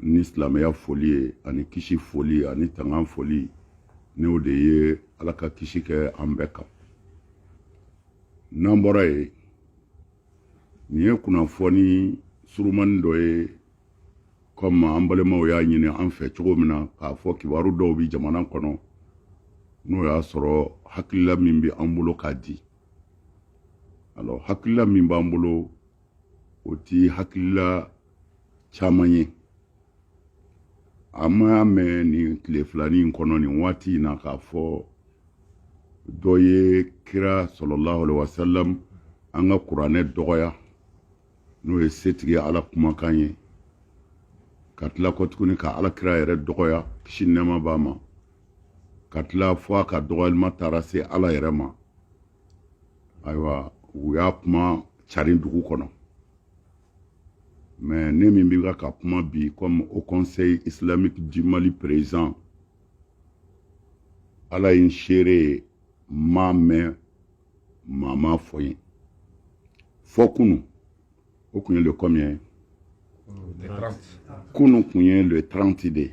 ni silamɛya foli ye ani kisi foli ani tangan foli n'o de ye ala ka kisi kɛ an bɛɛ kan n'an bɔra ye nin ye kunnafoni surumani dɔ ye kɔmi an balimaw y'a ɲini an fɛ cogo min na k'a fɔ kibaru dɔw bi jamana kɔnɔ n'o y'a sɔrɔ hakilila min bɛ an bolo k'a di alors hakilila min b'an bolo o ti hakilila caman ye an m'a mɛn nin tile filani in kɔnɔ nin waati in na k'a fɔ dɔ ye kira sallallahu alaihi wa sallam an ka kuranɛ dɔgɔya n'o ye setigi ala kumakan ye ka tila kotuguni ka ala kira yɛrɛ dɔgɔya kisi nɛɛma b'a ma ka tila fo a ka dɔgɔyalima taara se ala yɛrɛ ma ayiwa u y'a kuma carin dugu kɔnɔ mais ne min bɛ ka kuma bi komi haut conseil islamique du mali président ala ye n seere ye n m'a mɛn maa m'a fɔ n ye fo kunu o tun ye le combien ye kunu tun ye le 30 de ye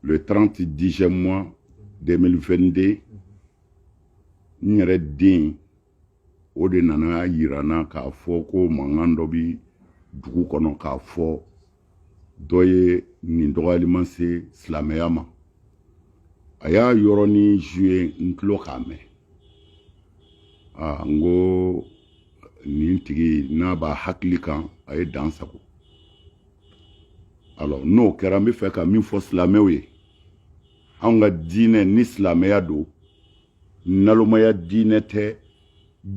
le 30 dixième mois 2022 n yɛrɛ den o de nan'a yira n na k'a fɔ ko mankan dɔ bi dugu kɔnɔ k'a fɔ dɔ ye nin dɔgɔyalima se silamɛya ma a y'a yɔrɔnin joué n tulo k'a mɛn aa n ko nin tigi n'a b'a hakili kan a ye dan sago alors n'o kɛra n b'a fɛ ka min fɔ silamɛw ye anw ka diinɛ ni silamɛya don nalomaya diinɛ tɛ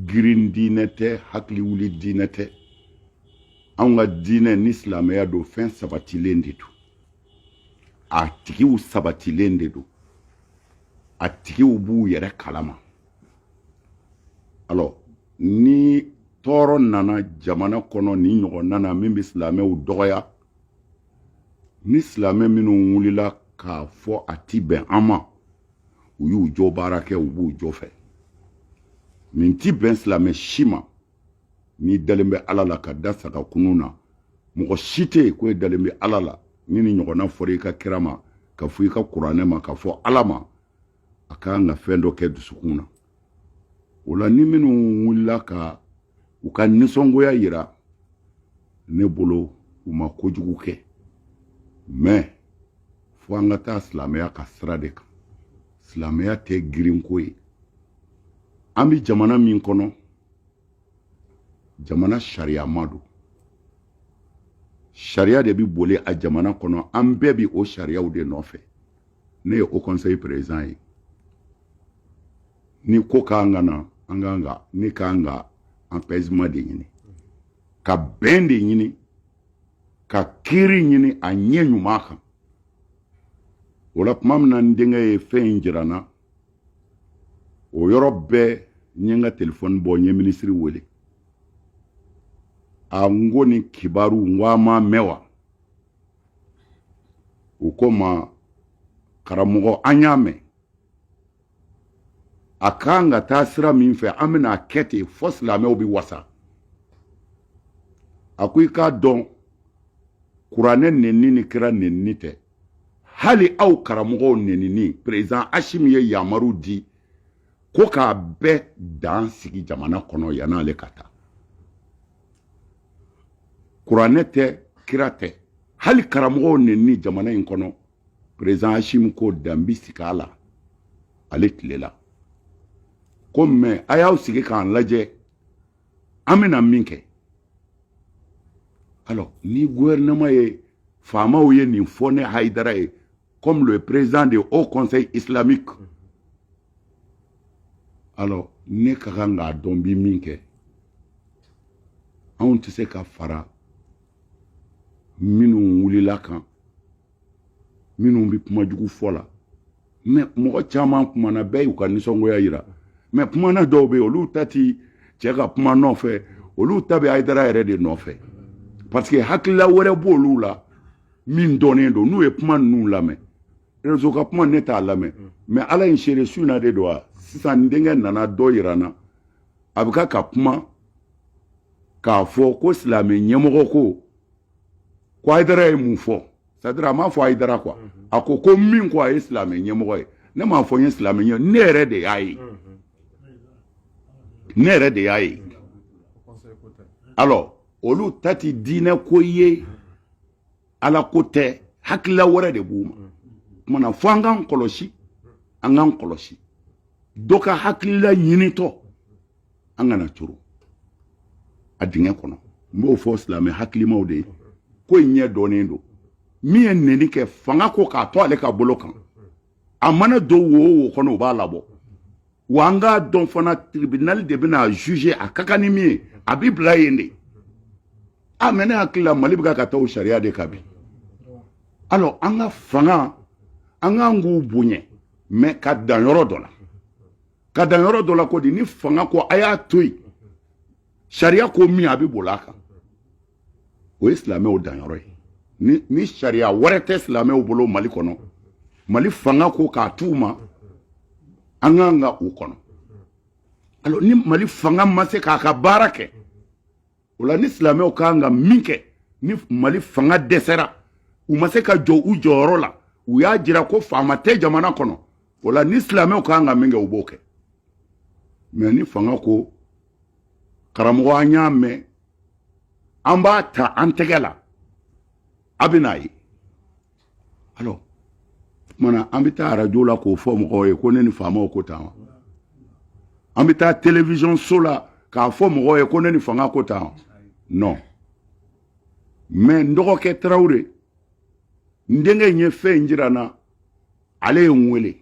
girin diinɛ tɛ hakiliwuli diinɛ tɛ anw ka diinɛ ni silamɛya don fɛn sabatilen de don a tigiw sabatilen de don a tigiw b'u yɛrɛ kalama alors ni tɔɔrɔ nana jamana kɔnɔ nin ɲɔgɔn nana min bɛ silamɛw dɔgɔya ni silamɛ minnu wulila k'a fɔ a ti bɛn an ma u y'u jo baara kɛ u b'u jo fɛ nin ti bɛn silamɛ si ma n'i dalen bɛ ala la ka da sa ka kunun na mɔgɔ si tɛ yen ko e dalen bɛ ala la ni nin ɲɔgɔnna fɔra i ka kira ma ka fɔ i ka kuranɛ ma ka fɔ ala ma a ka kan ka fɛn dɔ kɛ dusukun na o la ni minnu wulila ka u ka nisɔngoya yira ne bolo u ma kojugu kɛ mais fo an ka taa silamɛya ka sira de kan silamɛya tɛ girinko ye an bɛ jamana min kɔnɔ jamana sariyama don sariya de bɛ boli a jamana kɔnɔ an bɛɛ bɛ o sariyaw de nɔfɛ ne ye haut conseil président ye ni ko k'an ka na an kan ka ne kan ka apaisement de ɲini ka bɛn de ɲini ka kiri ɲini a ɲɛ ɲuman kan o la tuma min na n denkɛ ye fɛn in jira n na o yɔrɔ bɛɛ n ye n ka telefɔni bɔ n ye minisiri wele a n ko nin kibaru n ko aw m'a mɛn wa u ko n ma karamɔgɔ an y'a mɛn a kan ka taa sira min fɛ an bɛna a kɛ ten fo silamɛw bɛ wasa a ko i k'a dɔn kuranɛ nenni ni kira nenni tɛ hali aw karamɔgɔw nenni président asimi ye yamaru di ko k'a bɛɛ dan sigi jamana kɔnɔ yann'ale ka taa kuranɛ tɛ kira tɛ hali karamɔgɔw nenni jamana in kɔnɔ président asimi ko dan bi sigi a la ale tile la ko mais a y'aw sigi k'an lajɛ an bɛna min kɛ alors ni gouvernement ye faamaw ye nin fɔ ne hayidara ye comme le président du Haut Conseil islamique. Mm-hmm. Alors, ne ka kan k'a dɔn n bi min kɛ anw tɛ se ka fara minnu wulila kan minnu bɛ kuma jugu fɔ la mais mɔgɔ caman kumana bɛɛ y'u ka nisɔngoya yira mais kumana dɔw bɛ yen olu ta ti cɛ ka kuma nɔfɛ olu ta bɛ ayidara yɛrɛ de nɔfɛ parce que hakilila wɛrɛ b'olu la min dɔnnen don n'u ye kuma ninnu lamɛn rezo ka kuma ne t'a lamɛn mm. mais ala ye n seere su na de don a sisan n denkɛ nana dɔ yira n na a bɛ ka ka kuma k'a fɔ ko silamɛ ɲɛmɔgɔ ko ko ayidara ye mun fɔ c'est-à-dire a m'a fɔ ayidara quoi mm-hmm. a ko ko min ko a ye silamɛ ɲɛmɔgɔ ye ne m'a fɔ n ye silamɛ ɲɛ ne yɛrɛ de y'a ye mm-hmm. ne yɛrɛ de y'a ye mm-hmm. alors olu ta tɛ diinɛ ko ye ala ko tɛ hakilila wɛrɛ de b'u ma kumana fo an k'an kɔlɔsi an k'an kɔlɔsi dɔ ka hakilila ɲinitɔ an kana coro a dingɛ kɔnɔ n b'o fɔ silamɛ hakilimaw de ye ko in ɲɛ dɔnnen don min ye neni kɛ fanga ko k'a to ale ka bolo kan a mana don wo o wo kɔnɔ u b'a labɔ wa an k'a dɔn fana tribinali de bɛna juge a ka kan ni min ye a bɛ bila yen de a mɛ ne hakili la mali bɛ ka taa o sariya de kan bi alors an ka fanga an kan k'u bonya mɛ ka dan yɔrɔ dɔ la ka dan yɔrɔ dɔ la ko di ni fanga ko a y'a to yen sariya ko min a bɛ boli a kan o ye silamɛw danyɔrɔ ye ni sariya wɛrɛ tɛ silamɛw bolo mali kɔnɔ mali fanga ko k'a t'u ma an kan ka u kɔnɔ alors ni mali fanga ma se k'a ka baara kɛ o la ni silamɛw kan ka min kɛ ni mali fanga dɛsɛra u ma se ka jɔ u jɔyɔrɔ la u y'a jira ko faama tɛ jamana kɔnɔ o la ni silamɛw kan ka min kɛ u b'o kɛ mɛ ni fanga ko karamɔgɔ an y'a mɛn an b'a ta an tɛgɛ la a bɛn'a ye alors maana an bɛ taa arajo la k'o fɔ mɔgɔw ye ko ne ni faamaw ko tan wa an bɛ taa television so la k'a fɔ mɔgɔw ye ko ne ni fanga ko tan wa non mɛ n dɔgɔkɛ tarawele n denkɛ in ye fɛn in jira n na ale ye n wele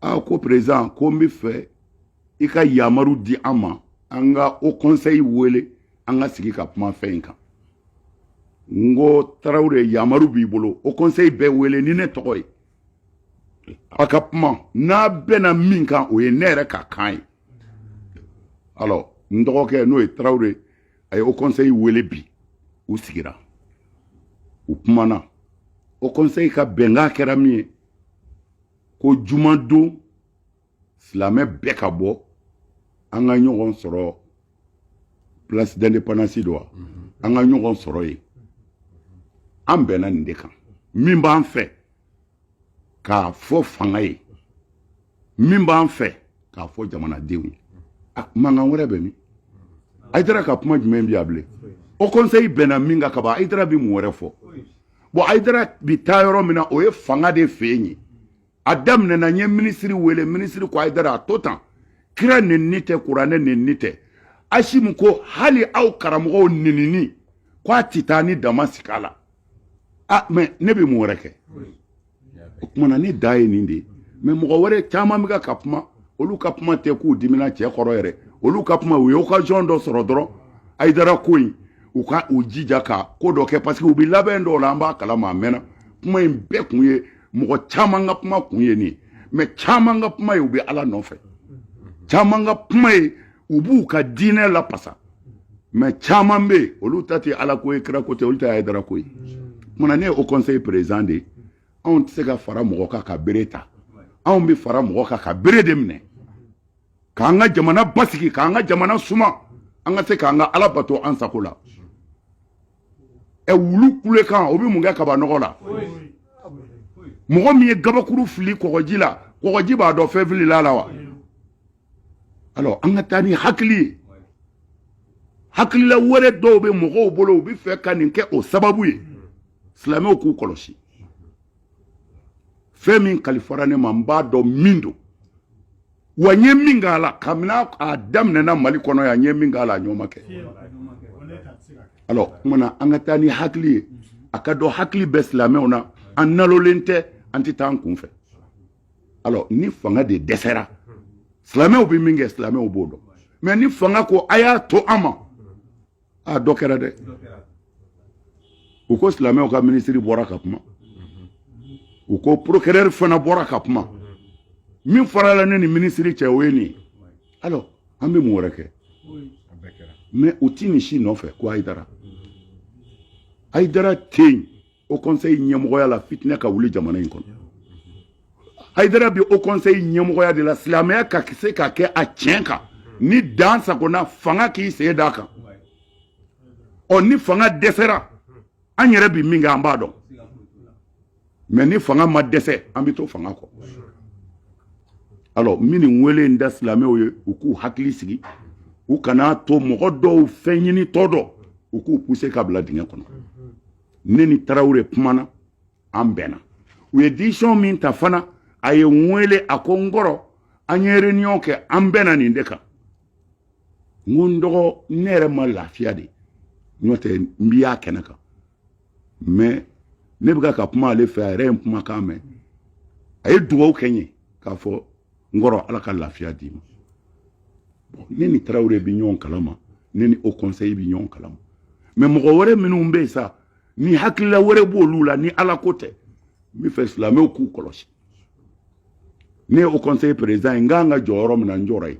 aa ko perezidan ko n b'a fɛ i ka yamaru di an ma an ka o kɔnsɛyi wele an ka sigi ka kuma fɛn in kan n ko tarawele yamaru b'i bolo o kɔnsɛyi bɛɛ wele ni ne tɔgɔ ye a ka kuma n'a bɛnna min kan o ye ne yɛrɛ ka kan ye alors n dɔgɔkɛ n'o ye tarawele a ye o kɔnsɛyi wele bi u sigira u kumana o kɔnsɛyi ka bɛnkan kɛra min ye ko jumadon silamɛ bɛɛ ka bɔ an ka ɲɔgɔn sɔrɔ place d'indépendance dɔ wa an ka ɲɔgɔn sɔrɔ yen an bɛnna nin de kan min b'an fɛ k'a fɔ fanga ye min b'an fɛ k'a fɔ jamanadenw ye a mankan wɛrɛ bɛ min ayidara ka kuma jumɛn bi a bilen haut conseil bɛnna min kan kaban ayidara bi mun wɛrɛ fɔ bɔn ayidara bi taa yɔrɔ min na o ye fanga de fɛ yen ye a daminɛna n ye minisiri wele minisiri ko ayidara a to tan kira nenni tɛ kuranɛ nenni tɛ asimi ko hali aw karamɔgɔw nenini ko a ti taa ni dan ma sigi a la a mɛ ne bɛ mun wɛrɛ kɛ o kumana ne da ye nin de ye mais mɔgɔ wɛrɛ caman bɛ ka kuma olu ka kuma tɛ k'u dimina cɛ kɔrɔ yɛrɛ olu ka kuma u ye occasion dɔ sɔrɔ dɔrɔn ayidara ko in u ka u jija ka ko dɔ kɛ parce que u bɛ labɛn dɔw la an b'a kalama a mɛnna kuma in bɛɛ kun ye mɔgɔ caman ka kuma kun ye nin ye mais caman ka kuma ye u bɛ ala nɔfɛ caman ka kuma ye u b'u ka diinɛ lapasa mais caman bɛ yen olu ta tɛ ala ko ye kira ko tɛ olu ta ye ayidara ko ye munna ne ye haut conseil président de ye anw tɛ se ka fara mɔgɔ kan ka bere ta anw bɛ fara mɔgɔ kan ka bere de minɛ k'an ka jamana basigi k'an ka jamana suma an ka se k'an ka ala bato an sago la ɛ wulu kulekan o bɛ mun kɛ kabanɔgɔ la mɔgɔ min ye gabakuru fili kɔgɔji la kɔgɔji b'a dɔn fɛn filila la wa alors an ka taa ni hakili ye hakilila wɛrɛ dɔw bɛ mɔgɔw bolo u bɛ fɛ ka nin kɛ o sababu ye silamɛw k'u kɔlɔsi fɛn min kalifara ne ma n b'a dɔn min don wa n ye min k'a la kabini a daminɛna mali kɔnɔ yan n ye min k'a la a ɲɔgɔn ma kɛ alors o kumana an ka taa ni hakili ye a ka dɔn hakili bɛ silamɛw na an nalolen tɛ an tɛ taa an kun fɛ alors ni fanga de dɛsɛra silamɛw bɛ min kɛ silamɛw b'o dɔn mais ni fanga ko a y'a to an ma a dɔ kɛra dɛ u ko silamɛw ka minisiri bɔra ka kuma u ko procureur fana bɔra ka kuma min farala ne ni minisiri cɛ o ye nin ye alors an bɛ mun wɛrɛ kɛ mais u ti nin si nɔfɛ ko ayidara ayidara tɛ yen haut conseil ɲɛmɔgɔya la fitinɛ ka wuli jamana in kɔnɔ hayidara bi haut conseil ɲɛmɔgɔya de la silamɛya ka se ka kɛ a tiɲɛ kan ni dan sagona fanga k'i sen d'a kan ɔ ni fanga dɛsɛra an yɛrɛ bi min kɛ an b'a dɔn mais ni fanga ma dɛsɛ an bɛ to fanga kɔ alors n bi nin wele in da silamɛw ye u k'u hakili sigi u kana to mɔgɔ dɔw fɛn ɲinitɔ dɔw k'u pousser ka bila dingɛ kɔnɔ ne ni tarawele kumana an bɛnna u ye décision min ta fana a ye n wele a ko n kɔrɔ an ye réunion kɛ an bɛnna nin de kan n ko n dɔgɔ ne yɛrɛ ma lafiya de n'o tɛ n bi a kɛnɛ kan mais ne bɛ ka kuma ale fɛ a yɛrɛ ye n kumakan mɛn a ye dugawu kɛ n ye k'a fɔ n kɔrɔ ala ka lafiya d'i ma bon ne ni tarawele bɛ ɲɔgɔn kalama ne ni o kɔnsɛyi bɛ ɲɔgɔn kalama mɛ mɔgɔ wɛrɛ minnu bɛ yen sa ni hakilila wɛrɛ b'olu la ni ala ko tɛ n bɛ fɛ silamɛw k'u kɔlɔsi ne ye o kɔnsɛyi perezidan ye n kan ka jɔ yɔrɔ min na n jɔra yen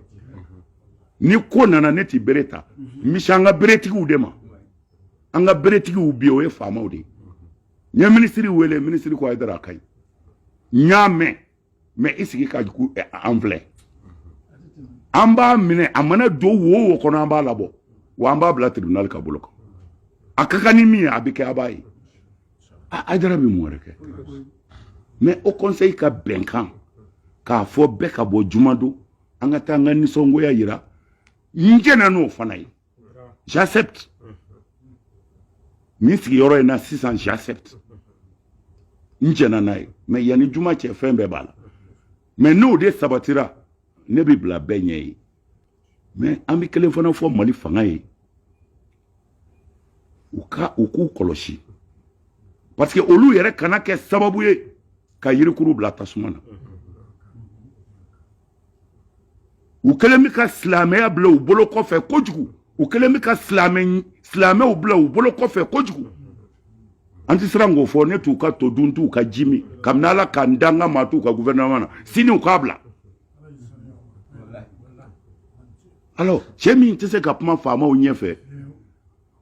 ni ko nana ne tɛ bere ta n bɛ se an ka beretigiw de ma an ka beretigiw bi o ye faamaw de ye n ye minisiri wele minisiri ko haidara a ka ɲi n y'a mɛn mɛ i sigi ka jugu eh, an filɛ an b'a minɛ a mana don wo wo kɔnɔ an b'a labɔ wa an b'a bila tribunal ka bolo kan a ka kan ni min ye a bɛ kɛ a b'a ye haidara bɛ mun wɛrɛ kɛ mɛ haut conseil ka bɛnkan k'a fɔ bɛɛ ka bɔ juma don an ka taa an ka nisɔngoya yira n jɛnna n'o fana ye j'accepte min sigiyɔrɔ in na sisan j'accepte n jɛna n'a ye mɛ yanni juma cɛ fɛn bɛɛ b'a la mɛ n'o de sabatira ne bɛ bila bɛɛ ɲɛ ye mɛ an bɛ kelen fana fɔ mali fanga ye u ka u k'u kɔlɔsi parce que olu yɛrɛ kana kɛ sababu ye ka yirikuru bila tasuma na u kɛlen bɛ ka silamɛya bila u bolo kɔfɛ kojugu u kɛlen bɛ ka silamɛw bila u bolo kɔfɛ kojugu an tɛ siran k'o fɔ ne t'u ka to dun t'u ka ji min kabini ala ka n dan n ka maa t'u ka gouvernement na sini u k'a bila alors cɛ min tɛ se ka kuma faamaw ɲɛfɛ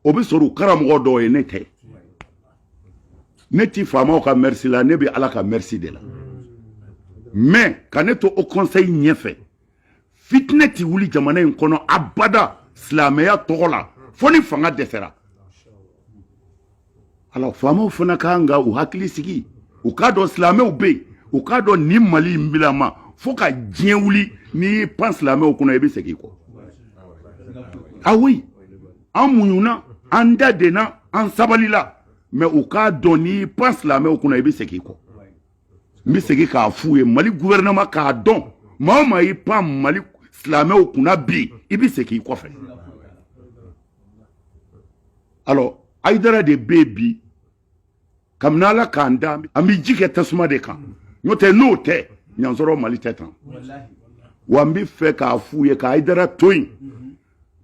o bɛ sɔrɔ u karamɔgɔ dɔw ye ne tɛ ne ti faamaw ka mɛrisi la ne bɛ ala ka mɛrisi de la mɛ ka ne to o kɔnsɛyi ɲɛfɛ fitinɛ ti wuli jamana in kɔnɔ abada silamɛya tɔgɔ la fo ni fanga dɛsɛra Alors faamaw fana ka kan ka u hakili sigi u k'a dɔn silamɛw bɛ yen u k'a dɔn nin mali in bilama fo ka diɲɛ wuli n'i y'i pan silamɛw kunna i bɛ segin i kɔ ah oui an muɲuna an da denna an sabalila mɛ u k'a dɔn n'i y'i pan silamɛw kunna i bɛ segin i kɔ n bɛ segin k'a f'u ye mali gouvernement k'a dɔn maa o maa y'i pan mali silamɛw kunna bi i bɛ segin i kɔfɛ alors haidara de bɛ yen bi kabini ala k'an da an bɛ ji kɛ tasuma de kan n'o tɛ n'o tɛ y'a sɔrɔ mali tɛ tan wa an bɛ fɛ k'a f'u ye ka haidara to yen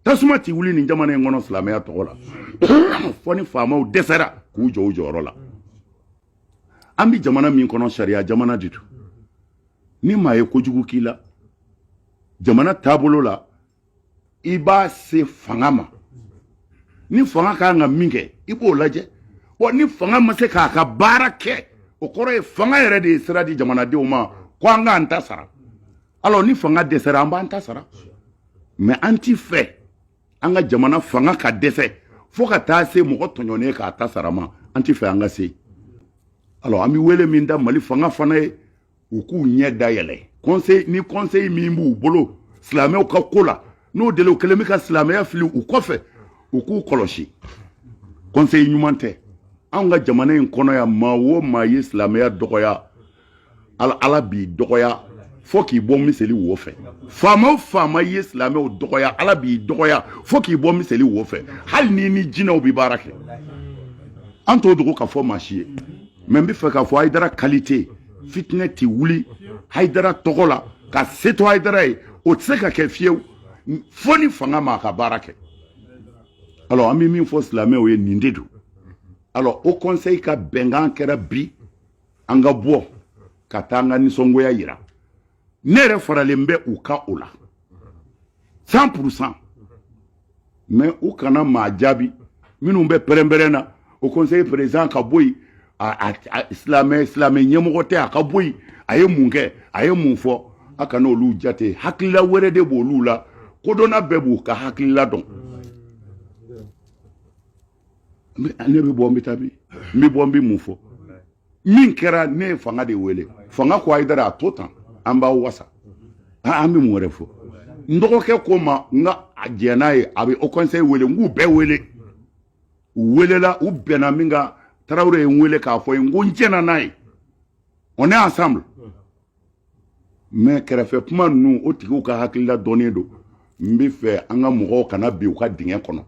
tasuma tɛ wuli nin jamana in kɔnɔ silamɛya tɔgɔ la fo ni faamaw dɛsɛra k'u jɔ u jɔyɔrɔ la an bɛ jamana min kɔnɔ sariya jamana de don ni maa ye kojugu k'i la jamana taabolo la i b'a se fanga ma ni fanga ka kan ka min kɛ i b'o lajɛ bon ni fanga ma se k'a ka baara kɛ o kɔrɔ ye fanga yɛrɛ de ye sira di jamanadenw ma ko an k'an ta sara alors ni fanga dɛsɛra an b'an ta sara mais an tɛ fɛ an ka jamana fanga ka dɛsɛ fo ka taa se mɔgɔ tɔɲɔnen k'a ta sara ma an tɛ fɛ an ka se alors an bɛ wele min da mali fanga fana ye u k'u ɲɛ dayɛlɛ ni conseil min b'u bolo silamɛw ka ko la n'o deli u kɛlen bɛ ka silamɛya fili u kɔfɛ u k'u kɔlɔsi conseil ɲuman tɛ anw ka jamana in kɔnɔ yan maa o maa ye silamɛya dɔgɔya ala b'i dɔgɔya fo k'i bɔ miseli wo fɛ faama o faama ye silamɛw dɔgɔya ala b'i dɔgɔya fo k'i bɔ miseli wo fɛ hali n'i ni jinɛw bɛ baara kɛ an t'o dogo ka fɔ maa si ye mais n bɛ fɛ k'a fɔ hayidara qualité fitinɛ tɛ wuli hayidara tɔgɔ la ka se to hayidara ye o tɛ se ka kɛ fiyewu fo ni fanga ma a ka baara kɛ alors an bɛ min fɔ silamɛw ye nin de don alors haut conseil ka bɛnkan kɛra bi an ka bɔ ka taa an ka nisɔngoya yira ne yɛrɛ faralen bɛ u ka o la cent pour cent mais u kana maa jaabi minnu bɛ pɛrɛnpɛrɛn na haut conseil président ka bɔ yen silamɛ ɲɛmɔgɔ tɛ a ka bɔ yen a ye mun kɛ a ye mun fɔ a kana olu jate hakilila wɛrɛ de b'olu la kodɔnna bɛɛ b'u ka hakilila dɔn ne bɛ bɔ n bɛ taa bi n bɛ bɔ n bɛ mun fɔ min kɛra ne ye fanga de wele fanga ko hayidara a to tan an b'a wasa an bɛ mun wɛrɛ fɔ n dɔgɔkɛ ko ma n ka a jɛ n'a ye a bɛ haut conseil wele n k'u bɛɛ wele u welela u bɛnna min kan tarawele ye n wele k'a fɔ n ye n ko n jɛnna n'a ye on est ensemble mais kɛrɛfɛ kuma ninnu o tigiw ka hakilila dɔnnen don n bɛ fɛ an ka mɔgɔw kana bin u ka dingɛ kɔnɔ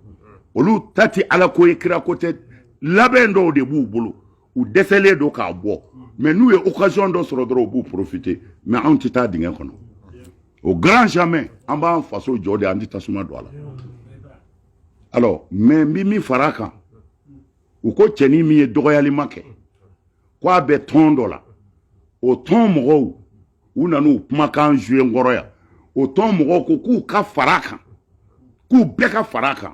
olu ta tɛ ala ko ye kira ko tɛ labɛn dɔw de b'u bolo u dɛsɛlen don k'a bɔ mais n'u ye occasion dɔ sɔrɔ dɔrɔn u b'u profiter mais anw tɛ taa dingɛ kɔnɔ au grand jamais an b'an faso jɔ de an tɛ tasuma don a la alors mais n bɛ min fara a kan u ko cɛnin min ye dɔgɔyalima kɛ ko a bɛ tɔn dɔ la o tɔn mɔgɔw u nan'u kumakan jouer n kɔrɔ yan o tɔn mɔgɔw ko k'u ka fara a kan k'u bɛɛ ka fara a kan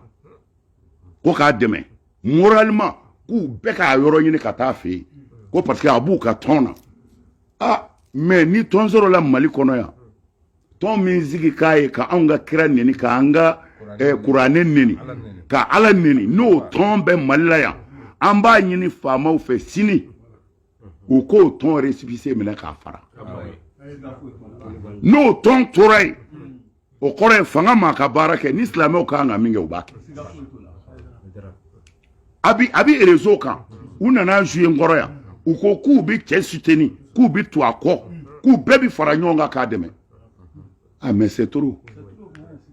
ko k'a dɛmɛ moralement k'u bɛɛ k'a yɔrɔ ɲini ka taa a fɛ yen ko parce que a b'u ka tɔn na ah, mais ni tɔn sɔrɔla mali kɔnɔ yan tɔn min sigi k'a ye ka anw ka kira neni ka an ka eh, kuranɛ neni ka ala neni n'o tɔn bɛ mali la yan an b'a ɲini faamaw fɛ sini u k'o tɔn resipise minɛ k'a fara n'o tɔn tora yen o kɔrɔ ye fanga ma ka baara kɛ ni silamɛw ka kan ka min kɛ u b'a kɛ a bi a bi rezo kan u nana zuye n kɔrɔ yan u ko k'u bɛ cɛ suteni k'u bɛ to a kɔ k'u bɛɛ bɛ fara ɲɔgɔn kan k'a dɛmɛ ah mais c'est trop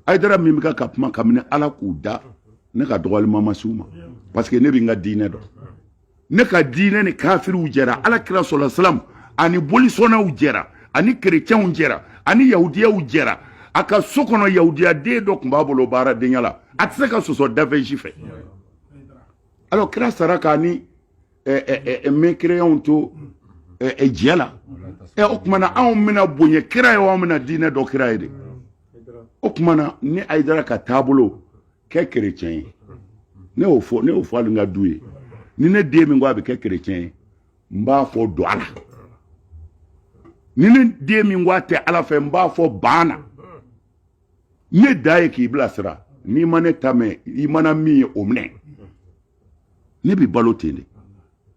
ayidara min bɛ ka kuma kabini ala k'u da ne ka dɔgɔlima ma s'u ma parce que ne bɛ n ka diinɛ dɔn ne ka diinɛ ni kafiriw jɛra ala kira sɔlɔ salam ani bolisɔnnaw jɛra ani kerecɛnw jɛra ani yahudiyaw jɛra a ka so kɔnɔ yahudiyaden dɔ tun b'a bolo baaradenya la a tɛ se ka sɔsɔ da fɛn si fɛ alors kira sara k'a ni mɛkereyanw to jɛ la o tuma na anw bɛna bonya kira ye anw bɛna diinɛ dɔn kira ye de o tuma na ne ayidara ka taabolo kɛ kerecɛn ye ne y'o fɔ ne y'o fɔ hali n ka du ye ni ne den min ko a bɛ kɛ kerecɛn ye n b'a fɔ don a la ni ne den min ko a tɛ ala fɛ n b'a fɔ ban na ne dan ye k'i bilasira n'i ma ne ta mɛn i mana min ye o minɛ ne bɛ balo ten de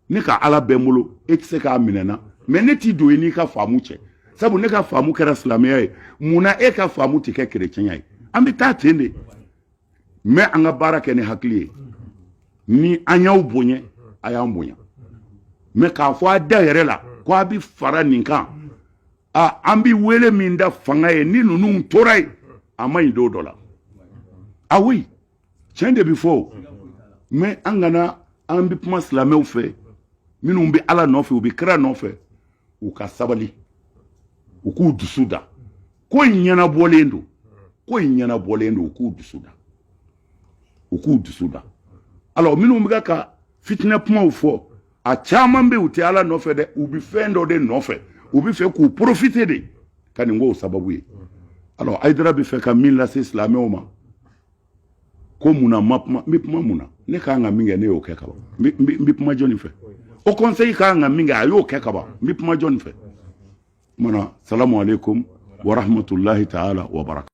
ne ka ala bɛ n bolo e tɛ se k'a minɛ n na mɛ ne t'i don i n'i ka faamu cɛ sabu ne ka faamu kɛra silamɛya ye mun na e ka faamu tɛ kɛ kerecɛnya ye an bɛ taa ten de mɛ an ka baara kɛ ni hakili ye ni an y'aw bonya a y'an bonya mɛ k'a fɔ a da yɛrɛ la ko a bɛ fara nin kan a an bɛ wele min da fanga ye ni ninnu tora yen a man ɲi don dɔ la a oui tiɲɛ de bɛ fɔ o mɛ an kana an bɛ kuma silamɛw fɛ minnu bɛ ala nɔfɛ u bɛ kira nɔfɛ u ka sabali u k'u dusu da ko in ɲɛnabɔlen don ko in ɲɛnabɔlen don u k'u dusu da u k'u dusu da alors minnu bɛ ka fitinɛ kumaw fɔ a caman bɛ u tɛ ala nɔfɛ dɛ u bɛ fɛn dɔ de nɔfɛ u bɛ fɛ k'u profite de ka nin k'o sababu ye alors ayidara bɛ fɛ ka min lase silamɛw ma ko mun na n ma kuma n bɛ kuma mun na ne ka kan ka min kɛ ne y'o kɛ ka ban n bɛ kuma jɔni fɛ o kɔnseyi ka kan ka min kɛ a y'o kɛ ka ban n bɛ kuma jɔni fɛ o tuma na salamu aleykum wa rahmatulahi taala wa baraka